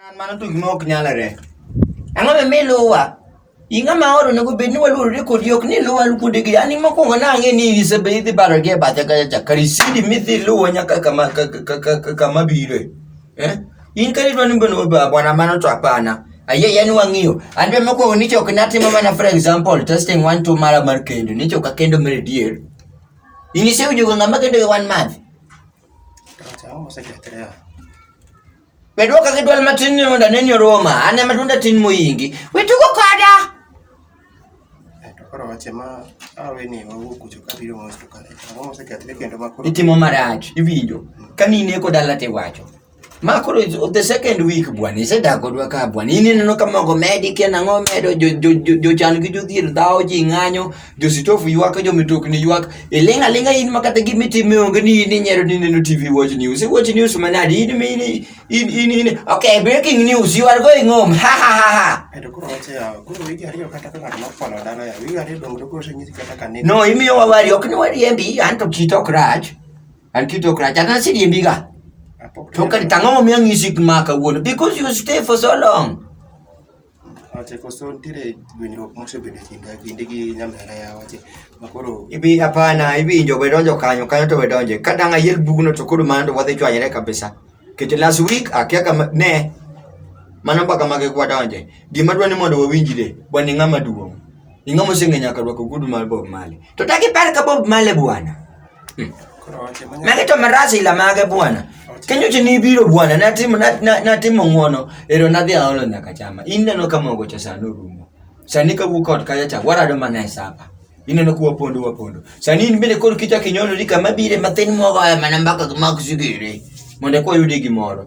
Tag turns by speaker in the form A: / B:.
A: An mano tugi ma ok nyalre. Ang'o ma mi luwa? In ng'ama oro onego bed ni waluorore kodi ok ni luwa kuondegi. An mokwongo nang'e ni isebe idhi baro gi e bathe kacha cha. Kar isidi midhi luwo nyaka kama ka- ka- ka- ka- kama biro. Eh? In kar idwa ni bwana obe- bwana mano to hapana. Ayie yani wang'iyo. An be mokwongo nicho ok natimo mana for example testing one two mara mar kendo. Nicho ka kendo mere dier. In isewinjo ga ng'ama kendo gi one month. Acha, osekethre. Medwa kaka idwal matin ni mondo aneni oroma, an ema tunda tin moyingi. We tugo koda! To koro wache ma awe ni wawuok kucho ka biro mos to kare. Ang'o mosekethre kendo ma koro Itimo marach, iwinjo. Ka nine ko dala tiwacho. Ma koro is- the second week bwana, isedak kodwa ka bwana. In ineno ka mogo medi kia nang'o medo jo- jo- jo- jochan gi jodhier dhawo ji ng'anyo. jositofu ywak jomitokni ywak iling' aling'a in ma kata gimitime onge ni in inyero ni neno tv watch news watch news manadi in mi in in in, in okay breaking news you are going home ha ha ha ha Eto koro wache ya, koro wigi ariyo kata ka ng'at makwano dala ya, wigi ariyo dongo to koro oseng'isi kata ka ne. no imiyo wawari ok ni wariembi an to kit ok rach an kit ok rach an asiriembiga Apok to kadi tang'o momiyo ang'isi ma kawuono because you stay for so long Wache koso nitiere gwenyruok mosebedo e kinda kinde gi nyamera ya wache ma koro ibi hapana iwinjo we donjo kanyo kanyo to we donje ka dang' ayier bugno to koro mano to wadhi chwanyre kabisa kete last week akia kama ne mano mbaka mage kwa donje gima dwa ni mondo wawinjre bwani ng'ama duong' Ing'o moseng'e nyaka rwako gudu mar Bob Marley? To dak ipar ka Bob Marley bwana? Hmm. Magi to maras ila mage bwana. Kenyo che nibiro bwana natimo natimo ng'wono ero nadhi aolo nyaka chama. In neno ka mogo cha sano rumo. Sani ka wuok ot kaya cha warado mana e sapa. Ineno kuwa pondo wa pondo. Sani in bende koro kichak inyonori kama bire mathin mogo ema namba ka mak sigiri. Mondo kwa yudi gimoro.